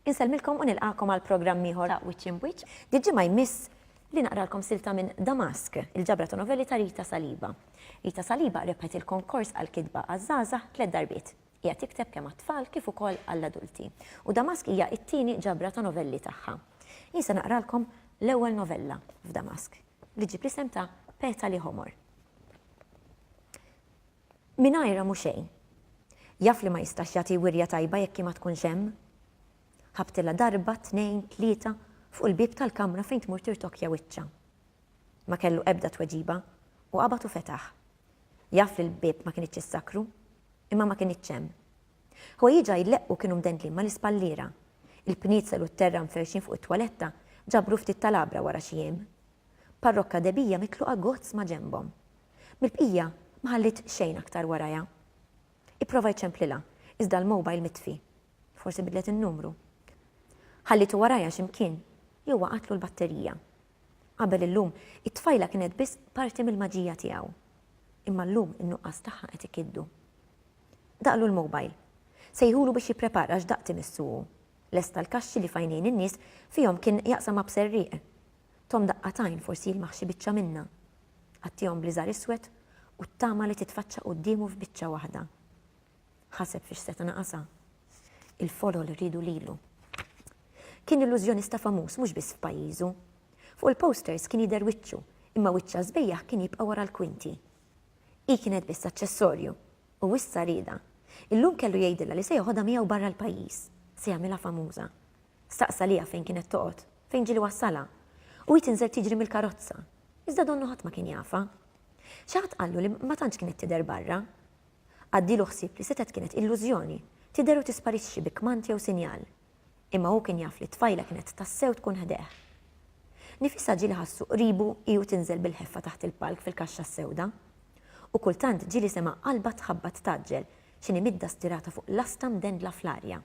Insellmilkom u nilqagħkom għal programm ieħor ta' Wiċċ Imb'Wiċċ. Dil-ġimgħa jmiss li naqralkom silta minn Damask, il-ġabra ta' novelli ta' Rita Saliba. Rita Saliba rebħet il-konkors għall-kitba għaż-żgħażagħ tliet darbiet. Hija tikteb kemm għat-tfal kif ukoll għall-adulti, u Damask hija t-tieni ġabra ta' novelli tagħha. Jien se naqralkom l-ewwel novella f'Damask, li ġġib l-isem ta' Petali Ħomor. Mingħajrha mhu xejn. Jaf li ma jistax jagħti wirja tajba jekk hi ma tkunx hemm. Ħabbtilha darba, tnejn, tlieta, fuq il-bieb tal-kamra fejn tmur tirtokkja wiċċha. Ma kellu ebda tweġiba u qabad u fetaħ. Jaf li l-bieb ma kinitx issakru, imma ma kinitx hemm. Ħwejjiġha jleqqu kienu mdendlin mal-ispalliera. Il-pnietzel u t-terra mferrxin fuq it-twaletta ġabru ftit tal-għabra wara xi jiem. Parrokka dehbija mitluqa gozz ma' ġenbhom. Mill-bqija, ma ħalliet xejn aktar warajha. Ipprova jċemplilha, iżda l-mowbajl mitfi. Forsi bidlet in-numru. Ħallietu warajha xi mkien, jew waqgħatlu l-batterija. Qabel illum, it-tfajla kienet biss parti mill-maġija tiegħu. Imma llum in-nuqqas tagħha qed ikiddu. Daqlu l-mowbajl. Sejħulu biex jipprepara għax daqt imissu hu. Lesta l-kaxxi li f'għajnejn in-nies fihom kien jaqsam għabser rieq. Tom daqqa t'għajn forsi jilmaħ xi biċċa minnha. Għattihom bliżar iswed u t-tama li titfaċċa quddiemu f'biċċa waħda. Ħaseb fiex seta' naqasha. Il-folol riedu lilu. Kien illużjonista famuż mhux biss f'pajjiżu. Fuq il-posters kien jidher wiċċu, imma wiċċ għażbejjaħ kien jibqa' wara l-kwinti. Hi kienet biss aċċessorju, u issa riedha. Illum kellu jgħidilha li se jeħodha miegħu barra l-pajjiż. Se jagħmilha famuża. Staqsa liha fejn kienet toqgħod, fejn ġieli wassalha, u hi tinżel tiġri mill-karozza. Iżda donnu ħadd ma kien jafha. Xi ħadd qallu li ma tantx kienet tidher barra. Għaddielu ħsieb li setgħet kienet illużjoni, tidher u tisparixxi bi kmand jew sinjal. Imma hu kien jaf li t-tfajla kienet tassew tkun ħdejh. Nifisha ġieli ħassu qribu hi u tinżel bil-ħeffa taħt il-palk fil-kaxxa s-sewda. U kultant ġieli sema' qalbha tħabbat tgħaġġel, xi nimidda stirata fuq lasta mdendla fl-arja.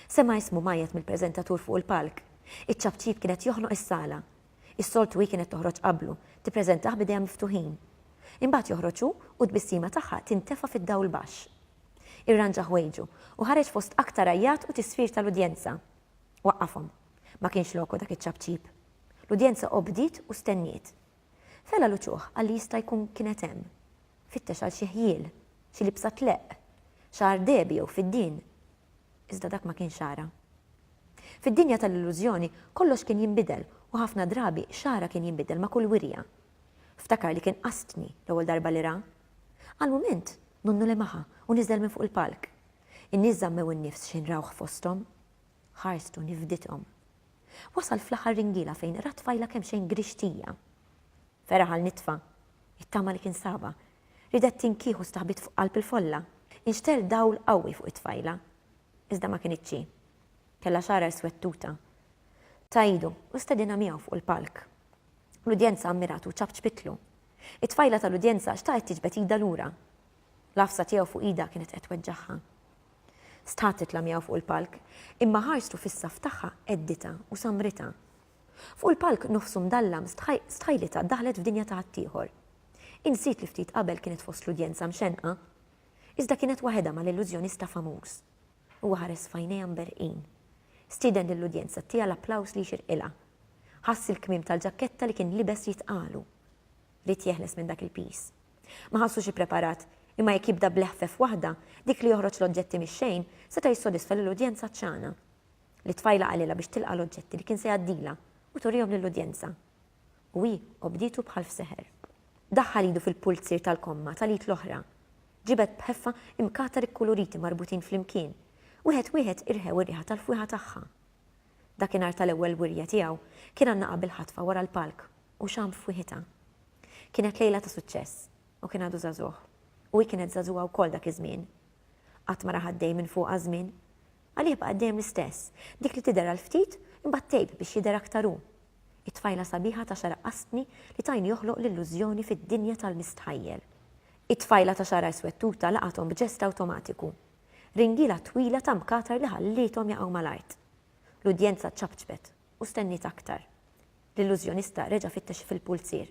Sema' ismu mgħajjat mill-preżentatur fuq il-palk. Iċ-ċapċip kien qed joħnoq is-sala. Is-soltu hi kienet toħroġ qablu, tippreżentah b'idejha miftuħin. Imbagħad joħroġ hu u t-tbissima tagħha tintefa' fid-dawl baxx. Irranġa ħwejġu u ħareġ fost aktar għajjat u tisfir tal-udjenza. Waqqafhom. Ma kienx loku dak iċ-ċapċip. L-udjenza obdiet u stenniet. Sela l-uċuħ għal li jista' jkun kienet hemm. Fittex għal xi ħjiel, xi libsa tleqq, xagħar dehbi jew fiddien. Iżda dak ma kienx ara. Fid-dinja tal-illużjoni kollox kien jinbidel u ħafna drabi xagħara kien jinbidel ma' kull wirja. Ftakar li kien qasdni l-ewwel darba li ra. Għall-mument nonnu lemaha u niżel minn fuq il-palk. In-nies żammew in-nifs xejn rawh fosthom. Ħarstu nifdithom. Wasal fl-aħħar ringiela fejn ra tfajla kemxejn grixtija. Feraħ għal nitfa. It-tama li kien sabha. Ridet tinkih u staħbiet fuq qalb il-folla. Inxtegħel dawl qawwi fuq it-tfajla. Iżda ma kinitx hi. Kellha xagħar iswed tuta. Ta idu u stedinha miegħu fuq il-palk. L-udjenza ammiratu u ċapċpitlu. It-tfajla tal-udjenza xtaqet tiġbed idha lura. L-għafsa tiegħu fuq idha kienet qed tweġġagħha. Stħat titla' miegħu fuq il-palk, imma ħarstu fis-saff tagħha qedditha u samritha. Fuq il-palk nofsu mdallam stħajlitha daħlet f'dinja ta' ħaddieħor. Insiet li ftit qabel kienet fost l-udjenza mxennqa. Iżda kienet waħedha mal-illużjonista famuż. Huwa ħares f'għajnejha mberrqin. Stieden lill-udjenza tiha l-applaws li jixirqilha. Ħass il-kmiem tal-ġakketta li kien libes jitqagħlu. Ried jeħles minn dak il-piż. Ma ħassux ippreparat, imma jekk jibda b'leħfef waħda, dik li joħroġ l-oġġetti mix-xejn, seta' jissodisfa lill-udjenza għatxana. Lit-tfajla qalilha biex tilqa' l-oġġetti li kien se jgħaddilha u turihom lill-udjenza. U hi obditu bħal f'seħer. Daħħal idu fil-pulzier tal-komma tal-id l-oħra. Ġibed b'ħeffa imkatar ikkuluriti marbutin flimkien. Wieħed wieħed irħew ir-riħa tal-fwieħa tagħha. Dakinhar tal-ewwel wirja tiegħu, kien għannaqha bil-ħatfa wara l-palk u xamm f'wieħitha. Kienet lejla ta' suċċess u kien għadu żagħżugħ. U hi kienet żagħżugħa wkoll dak iż-żmien. Qatt ma ra ħaddej minn fuqha ż-żmien. Għalih baqgħet dejjem l-istess, dik li tidher għal ftit imbagħad tgħib biex jidher aktar hu. It-tfajla sabiħa ta' xagħar qasni li tajn joħloq l-illużjoni fid-dinja tal-mistħajjel. It-tfajla ta' xagħar iswed tuta laqathom b'ġest awtomatiku. Ringiela twila ta' mkatar li ħalliethom jaqgħu mal-art. L-udjenza ċapċpet u stenniet aktar. L-illużjonista reġa' fittex fil-pulzier.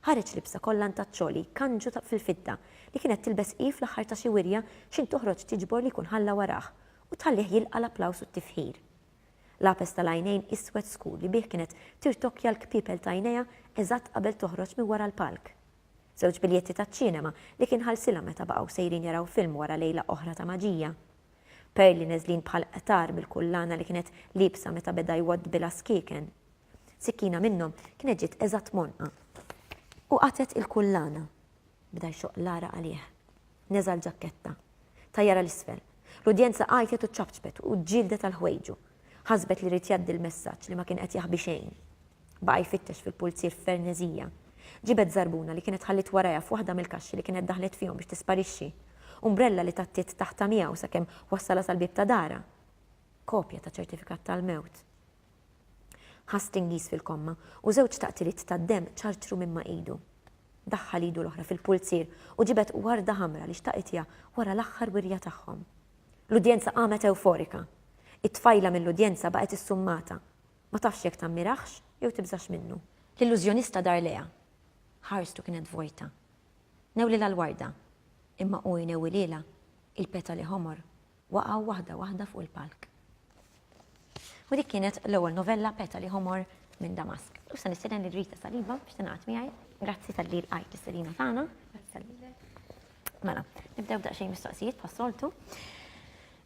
Ħareġ libsa kollan ta' ċoli kanġu ta' fil-fidda li kienet tilbes hi fl-aħħar ta' xi wirja x'in toħroġ tiġbor li jkun ħalla warah u tħallih jilqa' l-applaws u t-tifħir. Lapes tal-għajnejn iswed skur li bih kienet tirtokkja l-kpiepel t'għajnejha eżatt qabel toħroġ minn wara l-palk. Żewġ biljetti taċ-ċinema li kien ħallsilha meta baqgħu sejrin jaraw film wara lejla oħra ta' maġija. Perli neżlin bħal qtar mill-kullana li kienet liebsa meta beda jwaddbilha skieken. Sikkina minnhom kienet ġiet eżatt m'għonqha. U qatgħet il-kullana. Beda jxoqq l-għaraq għalih. Neża' l-ġakketta. Tajjarha 'l isfel. L-udjenza għajtet u ċċapċpet u ġġieldet għal ħwejġu. Ħasbet li ried jgħaddi l-messaġġ li ma kien qed jaħbi xejn. Baqa' jfittex fil-pulzier f'ferneżija. Ġibed żarbuna li kienet ħalliet warajha f'waħda mill-kaxxi li kienet daħlet fihom biex tisparixxi. Umbrella li tgħattiet taħtha miegħu sakemm wassalha sal-bieb ta' darha. Kopja ta' ċertifikat tal-mewt. Ħass tingiż fil-komma u żewġ taqtiliet tad-demm ċarċru minn ma' idu. Daħħal idu l-oħra fil-pulzier u ġibed warda ħamra li xtaq itija wara l-aħħar wirja tagħhom. L-udjenza qamet ewforika. It-tfajla mill-udjenza baqgħet issummata. Ma tafx jekk tammirahx jew tibżax minnu. L-illużjonista dar lejha. Ħarstu kienet vojta. Newlilha l-warda. Imma hu jnewwililha, il-petali ħomor waqgħu waħda waħda fuq il-palk. U dik kienet l-ewwel novella Petali Ħomor minn Damask. U sa nistieden lil Rita Saliba biex tingħaqad miegħi. Grazzi tal-li lqajt l-istedina tagħna. Mela, nibdew b'daqsxejn mistoqsijiet bħas-soltu.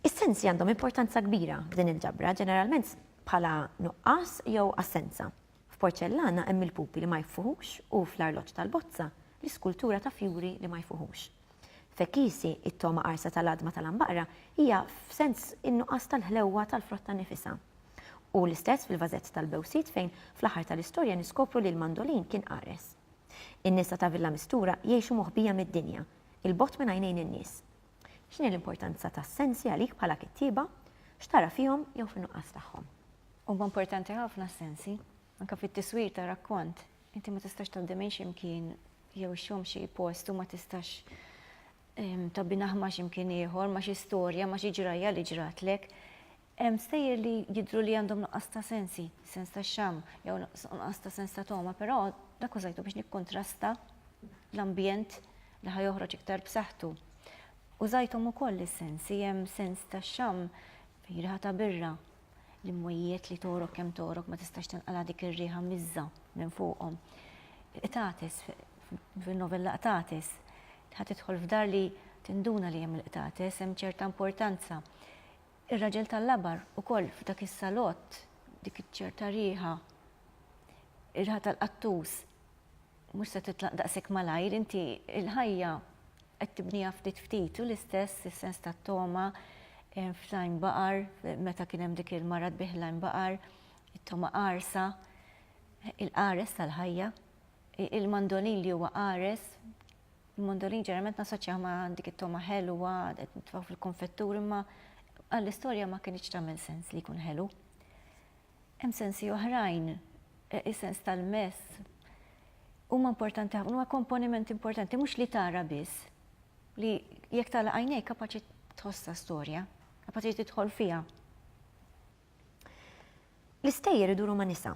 Is-sensi għandhom importanza kbira f'din il-ġabra, ġeneralment bħala nuqqas jew assenza. F'porċellana hemm il-pupi li ma jfuħux u fl-arloġġ tal-bozza, l-iskultura ta' fjuri li ma jfuħux. F'Ekisi, it-togħma qarsa tal-għadma tal-għanbaqra hija f'sens in-nuqqas tal-ħlewwa tal-frotta nifisha. U l-istess fil-vażett tal-bewsiet fejn, fl-aħħar tal-istorja niskopru li l-mandolin kien qares. In-nisa ta' Villa Mistura jgħixu moħbija mid-dinja, 'il bogħod minn għajnejn in-nies. X'inhi l-importanza tas-sensi għalik bħala kittieba? X'tara fihom jew fin-nuqqas tagħhom? Huma importanti ħafna s-sensi. Anke fit-tiswir ta' rakkont, inti ma tistax tgħaddi minn xi mkien jew x'hom xi post u ma tistax ehm, tabbi naħma xi mkien ieħor ma xi storja ma xi ġrajja li ġratlek. Hemm stejjer li jidhru li għandhom nuqqas ta' sensi, sens ta' xamm, jew nuqqas ta' sens ta' togħma, però dak użajtu biex nikkuntrasta l-ambjent li ħa joħroġ iktar b'saħħtu. Użajthom ukoll is-sensi, hemm sens ta' xamm fejn riħa ta' birra, l-imwejjed li togħrok kemm togħrok ma tistax tinqala' dik ir-riħa miżża minn fuqhom. Qtates, fin-novella Qtates, ħa tidħol f'dar li tinduna li hemm il-qtates, hemm ċerta importanza. Ir-raġel tal-labar ukoll f'dak is-salott, dik iċ-ċerta riħa, ir-riħa tal-qattus mhux se titlaq daqshekk malajr, inti l-ħajja qed tibniha ftit ftit u l-istess is-sens tat-togħma fl-Għajn Baqar, meta kien hemm dik il-mara tbigħ l-Għajn Baqar, it-togħma qarsa, il-qares tal-ħajja, il-mandolin li huwa qares, Il-mondolin ġeneralment nassoċjah ma' dik it-togħma ħelwa, qed nitfgħu fil-konfettur, imma għall-istorja ma kinitx tagħmel sens li jkun ħelu. Hemm sensi oħrajn, e, is-sens tal-mess, huma importanti ħafna, huma komponiment importanti, mhux li tara biss, li jekk tala għajnejk kapaċi tħossa storja, kapaċi tidħol fiha. L-istejjer iduru ma' nisa.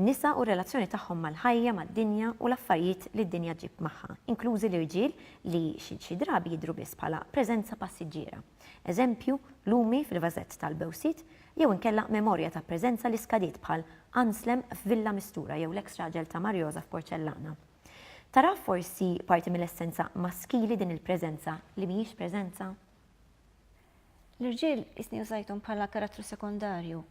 Nisa u r-relazzjoni tagħhom mal-ħajja, mad-dinja u l-affarijiet li d-dinja ġġib magħha, inklużi l-irġiel li xi drabi jidhru biss bħala preżenza passiġġiera, eżempju, lumi fil-vażett tal-bewsiet, jew inkella memorja ta' preżenza li skadiet bħal Anslem f'villa mistura jew l-eks raġel ta' Marjosa f'Porċellana. Taraha forsi parti mill-essenza maskili din il-preżenza li mhijiex preżenza? L-irġiel qisni użajthom bħala karattru sekondarju,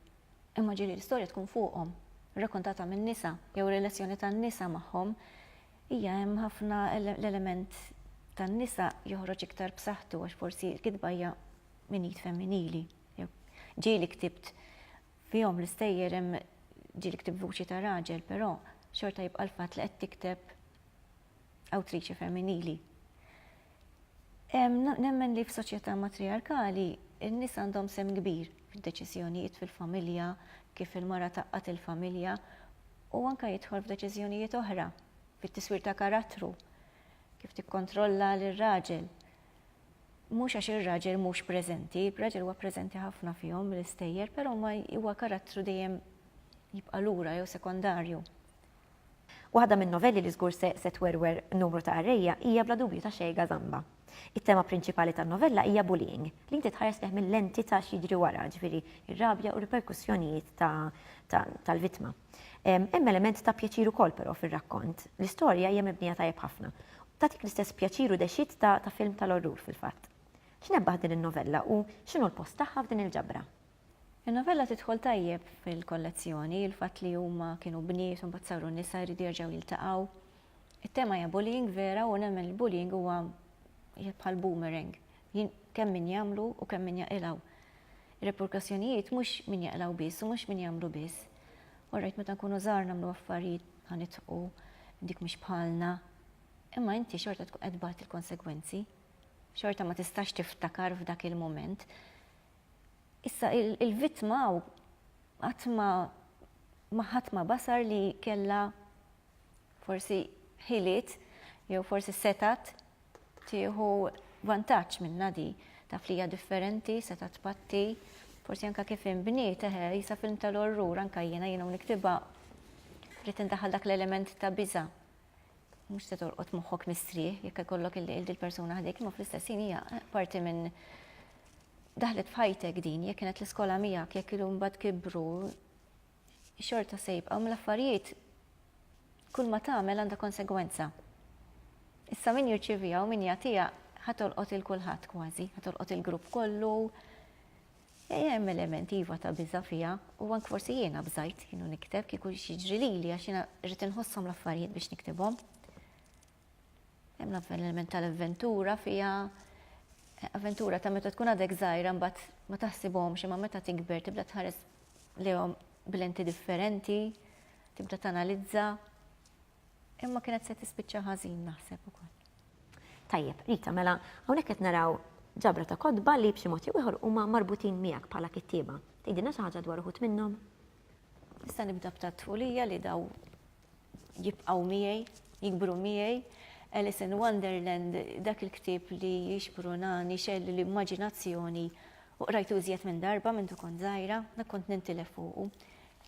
imma ġieli l-istorja tkun fuqhom, rrakkontata minn nisa jew relazzjoni tan-nisa magħhom hija hemm ħafna l-element tan-nisa joħroġ iktar b'saħħtu għax forsi l-kitba hija minn id femminili. Ġieli ktibt fihom l-istejjer hemm ġieli ktibt vuċi ta' raġel, però xorta jibqa' l-fatt li qed tikteb awtriċi femminili. Nemmen li f'soċjetà matrijarkali, in-nisa għandhom sehem kbir fid-deċiżjonijiet fil-familja, kif il-mara tgħaqqad il-familja, u anke jidħol f'deċiżjonijiet oħra, fit-tiswir ta' karattru, kif tikkontrolla lir-raġel. Mhux għax ir-raġel mhux preżenti, ir-raġel huwa preżenti ħafna fihom l-istejjer, però ma huwa karattru dejjem jibqa' lura jew sekondarju. Waħda min-novelli li żgur se se twerwer numru ta' għarrejja hija bla dubju ta' Xejn Gazamba. It-tema prinċipali tan-novella hija bullying, li inti tħares lejh mil-lenti ta' x'jiġri wara, ġifieri r-rabja u r-riperkussjonijiet ta' ta' tal-vittma. Hemm element ta' pjaċir ukoll però fir-rakkont. L-istorja hija mibnija tajjeb ħafna. Tagħtik l-istess pjaċir u dexxiet ta' ta' film tal-orrur fil-fatt. X'nebbaħ din in-novella u x'inhu l-post tagħha f'din il-ġabra? In-novella tidħol tajjeb fil-kollezzjoni, il-fatt li huma kienu bniet u mbagħad saru nisa jridu jerġgħu jiltaqgħu. It-tema hija bullying vera u nemmen li l-bullying huwa bħal boomerang, kemm min jagħmlu u kemm min jaqilgħu. Ir-reperkussjonijiet mhux min jaqilgħu biss u mhux min jagħmlu biss. Orajt meta nkunu żgħar nagħmlu affarijiet ħa nidħqu, dik mhix bħalna. Imma inti xorta tkun qed tbati l-konsegwenzi. Xorta ma tistax tiftakar f'dak il-mument. Issa il-vittma qatt ma ma ħadd ma basar li kellha forsi ħiliet jew forsi setgħat tieħu vantaġġ minn Nadi. Taf li hija differenti, setgħa tpatti, forsi anke kif inbniet, eħe, jisa film tal-orrur anke jiena jiena u niktibha rrid indaħħal dak l-element ta' biża' mhux se torqod moħħok mistrieħ jekk ikollok il-persuna ħdejk, imma fl-istess hija parti minn daħlet f'ħajtek din, jekk kienet l-iskola miegħek, jekk ilhom bad kibru, xorta se jibqgħu mill-affarijiet kull ma tagħmel għandha konsegwenza. Issa min jirċivija u min jagħtiha ħatolqot il-kulħadd kważi, ħatolqot il-grupp kollu, Hemm element iva ta' biża' fiha u anke forsi jiena bżajt kienu nikteb kieku x'jiġri lili għax jiena rrid inħosshom l-affarijiet biex niktibhom. Hemm l-element tal-avventura fiha, avventura ta' meta tkun għadek żgħira mbagħad ma taħsibhomx imma meta tikber tibda tħares lejhom b'lenti differenti, tibda tanalizza. Imma kienet se tispiċċa ħażin naħseb ukoll. Tajjeb, Rita, mela, hawnhekk qed naraw ġabra ta' kodba li b'xi mod ieħor huma marbutin miegħek bħala kittieba. Tgħidilna xi ħaġa dwar uħud minnhom? Nista' nibda b'ta' tfulija li daw jibqgħu miegħi, jikbru miegħi. Alice in Wonderland, dak il-ktieb li jixprunani xell l-immaġinazzjoni u qrajtu iżjed minn darba minn tkun żgħira, dak kont nintilef fuqu.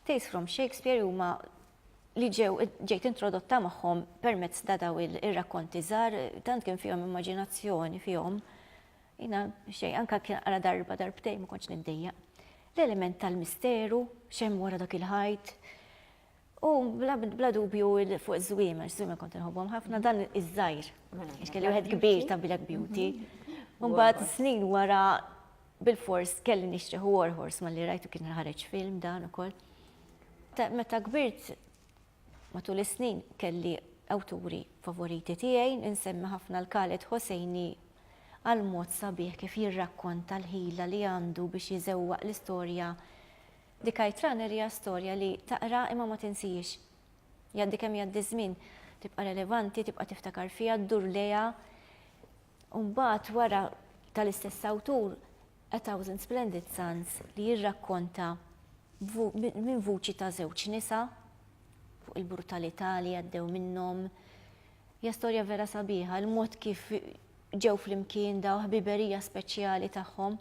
Tales from Shakespeare huma li ġew ġejt introdotta magħhom permezz ta' daw ir-rakkonti żgħar, tant kien fihom immaġinazzjoni fihom. Jina xej, anka kien għala darba darbtej ma kontx niddejja. L-element tal-misteru, xem wara dak il-ħajt. U bla dubju fuq iż-żwiemer, żwiemer kont inħobbhom ħafna dan iż-żajr. Xkelli wieħed kbir ta' Black Beauty. Mbagħad snin wara bil-fors kelli nixtri Warhorse ma li rajtu kien ħareġ film dan ukoll. Meta kbirt matul is-snin kelli awturi favoriti tiegħi, insemmi ħafna 'l Khaled Hosseini għall-mod sabiħ kif jirrakkonta l-ħila li għandu biex jiżewwaq l-istorja. The Kite Runner hija storja li taqra imma ma tinsihiex. Jgħaddi kemm jgħaddi ż-żmien, tibqa' relevanti, tibqa' tiftakar fiha, ddur lejha. U mbagħad wara tal-istess awtur A Thousand Splendid Suns li jirrakkonta minn vuċi ta' żewġ nisa fuq il-brutalità li għaddew minnhom. Ja storja vera sabiħa, il-mod kif ġew flimkien daw ħbiberija speċjali tagħhom.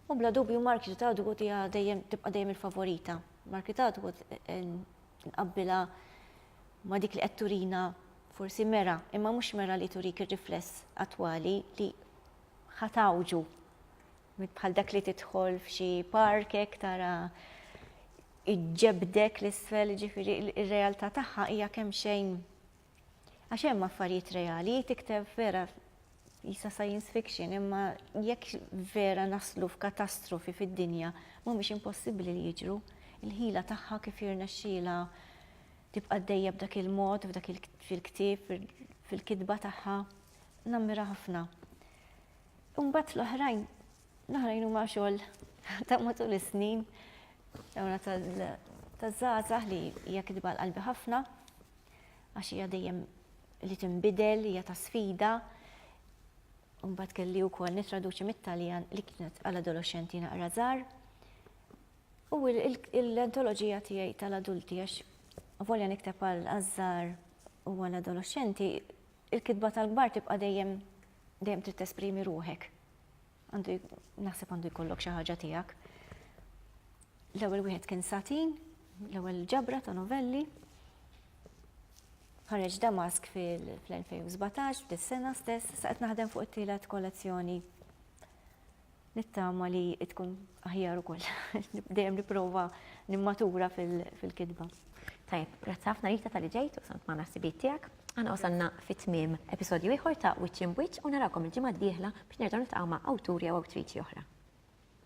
U bla dubju Margaret Atwood hija dejjem tibqa' dejjem il-favorita. Margaret Atwood eh, nqabbilha ma' dik li qed turina Forsi mera, imma mhux mera li turik ir-rifless attwali li ħa tgħawġu. Bħal dak li tidħol f'xi park hekk tara iġġebdek l-isfel, ġifieri ir-realtà tagħha hija kemm xejn għax hemm affarijiet reali, tikteb vera jisa science fiction, imma jekk vera naslu f'katastrofi fid-dinja, mhumiex impossibbli li jiġru. Il-ħila tagħha kif jirnexxiela Tibqa' għaddejja b'dak il-mod, f'dak il-ktieb, fil-kitba tagħha. Nammira ħafna. Imbagħad l-oħrajn, l-oħrajn huma xogħol ta' matul is-snin, dawna taż-żgħażagħ li hija kitba l-qalbi ħafna, għax hija dejjem li tinbidel, hija ta' sfida. Mbagħad kelli wkoll nitraduċi mit-Taljan li kienet għal adoloxxenti naqra żgħar. U l-antoloġija tiegħi tal-adulti għax volja nikteb għal żgħar u għal adoloxxenti, il-kitba tal-kbar tibqa' dejjem dejjem trid tesprimi ruħek. Għandu naħseb għandu jkollok xi ħaġa tiegħek. L-ewwel wieħed kien Satin, l-ewwel ġabra ta' novelli. Ħareġ Damask fil-2017, f'dis-sena stess, sa qed naħdem fuq it-tielet kollezzjoni Nittama li tkun aħjar ukoll. Dejjem nipprova nimmatura fil-kitba. Tajjeb, grazzi ħafna Rita tal-li ġejt u sant ma' naħsibiet tiegħek. Għana wasalna fit-tmiem episodju ieħor ta' Wiċċ Imb Wiċċ u narakom il-ġimgħa d-dieħla biex nerġgħu niltaqgħu ma' awtur jew awtriċi oħra.